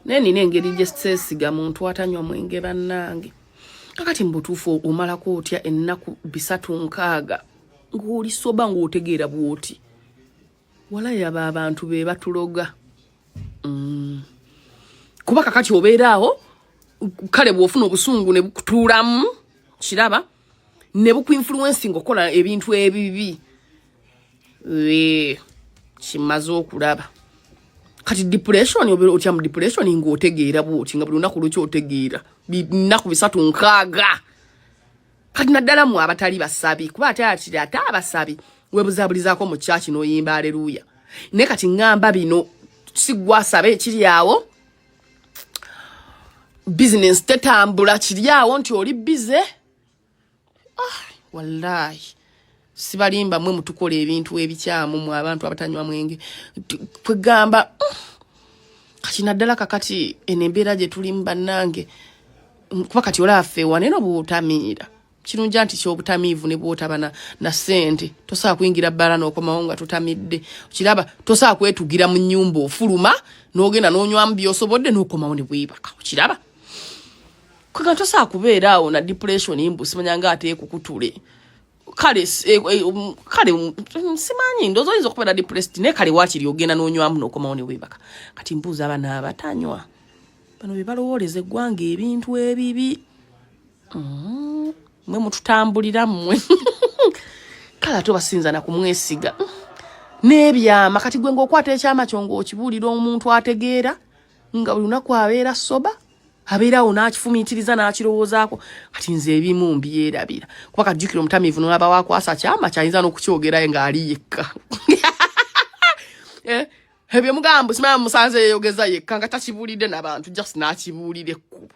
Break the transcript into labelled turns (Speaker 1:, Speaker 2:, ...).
Speaker 1: naye nina engeri gyesesiga muntu atanywa mwenge bannange kakati mubutuufu omalako otya ennaku bisatu nkaaga ng'oli soba ng'otegeera bw'oti walayaba abantu be batuloga mm. kuba kakati obeera awo kale bw'ofuna obusungu ne bukutuulamu kiraba ne bukuinfluencing okukola ebintu ebibi kimaze okulaba kati depression otya mu depression ngaotegeera bwoti nga buli lunaku lweki otegeera binaku bisatu nkaaga kati naddala mu abatali basabi kuba ate atiri ate abasabi webuzabulizaako mu kyaki noyimba aleluya naye kati ngamba bino sigwasabe ekiri awo business tetambula kiri awo nti oli bize ah, wallahi sibalimba mwe mutukola ebintu ebikyamu mu abantu abatanywa mwenge kwegamba mm, kati naddala kakati eno embeera gye tulimu bannange kuba kati olaafe waneno bwotamiira kirungi nti kyobutamiivu ne bwotaba na, na sente tosobola kuyingira bbala n'okomawo nga tutamidde kiraba tosobola kwetugira mu nyumba ofuluma n'ogenda n'onywamu byosobodde n'okomawo ne bwebaka okiraba kwega tosobola kubeera awo na depression mbu simanyanga ate ekukutule kale eh, eh, um, kale um, mm, simanyi ndozo oyinza okubeera depressed naye kale wakiri ogenda n'onywamu n'okomawo ne bwebaka kati mbuuza abana abatanywa bano bebalowooleza eggwanga ebintu ebibi mm-hmm. mwe mututambulira mmwe kale ate obasinza na kumwesiga n'ebyama kati gwe ngaokwata ekyama kyo ngaokibuulira omuntu ategeera nga buli lunaku abeera soba abeerawo n'akifumiitiriza n'akirowoozaako kati nze ebimu mbyerabira kuba kajjukira omutamiivu nolaba wakwasa kyama kyayinza n'okukyogerayo ng'ali yekka eh, ebyo mugambo simaya musanze yeyogeza yekka nga takibuulidde nabantu just n'akibuulira ekkubo